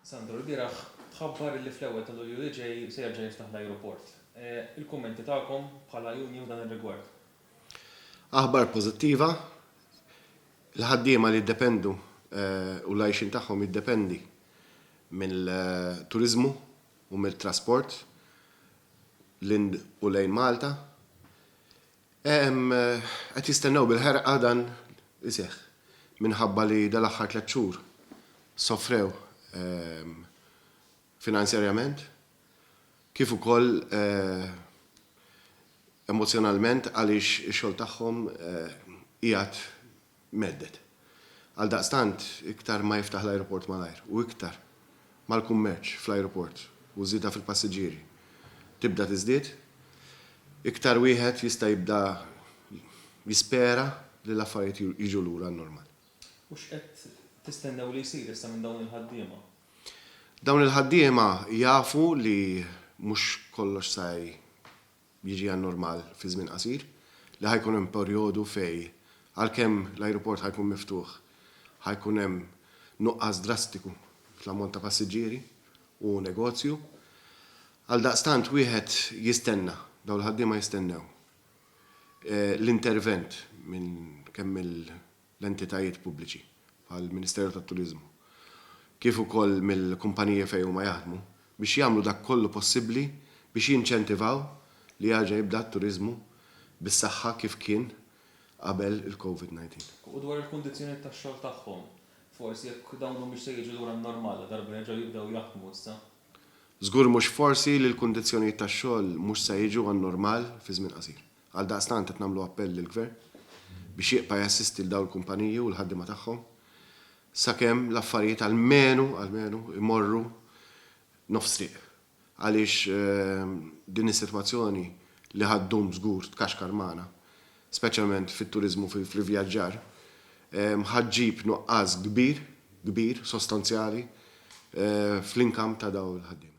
Sandro lbieraħ tħabbar li fl-ewwel ta' Lulju li ġej se jerġa' jiftaħ l-ajruport. Il-kummenti tagħkom bħala union f'dan ir-rigward? Aħbar pożittiva, il-ħaddiema li jiddependu u l-għajxien tagħhom jiddependi mill-turiżmu u mit-trasport lil u lejn Malta, Qed jistennew bil-ħerqa dan iseħħ minħabba li dal-aħħar tliet xhur sofrew finanzjarjament kif ukoll emozzjonalment għaliex ix-xogħol tagħhom qiegħed mhedded. Għaldaqstant, iktar ma jiftaħ l-ajruport malajr u iktar ma l-kummerċ fl-ajruport u ż-żieda fil-passiġġieri tibda tiżdied, iktar wieħed jista' jibda jispera li l-affarijiet jiġu lura għan-normal. U x'qed tistennew li jsir issa minn dawn il-ħaddiema? Dawn il-ħaddiema jafu li mhux kollox sa jiġi għan-normal fi żmien qasir, li ħa jkun hemm perjodu fejn għalkemm l-ajruport ħa jkun miftuħ ħa jkun hemm nuqqas drastiku fl-ammont ta' passiġġieri u negozju. Għaldaqstant wieħed jistenna, dawn il-ħaddiema jistennew l-intervent minn kemm il- l-entitajiet pubbliċi, bħall-Ministeru tat-Turiżmu, kif ukoll mill-kumpaniji fejn huma jaħdmu, biex jagħmlu dak kollu possibbli biex jinċentivaw li jerġa' jibda t-turiżmu bis-saħħa kif kien qabel il-Covid 19. U dwar il-kundizzjonijiet tax-xogħol tagħhom? Forsi jekk dawn humiex se jiġu lura n-normal ladarba jerġgħu jibdew jaħdmu issa? Żgur mhux forsi li l-kundizzjonijiet tax-xogħol mhux se jiġu għan-normal fi żmien qasir. Għaldaqstant qed nagħmlu appell lill-Gvern biex jibqa' jassisti 'l dawn il-kumpaniji u l-ħaddiema tagħhom sakemm l-affarijiet almenu, almenu, imorru nofs triq. Għaliex din is-sitwazzjoni li ħa ddum żgur tkaxkar magħna, speċjalment fit-turiżmu u fl-ivvjaġġar, ħa ġġib nuqqas kbir, kbir, sostanzjali fl-income ta' dawn il-ħaddiema.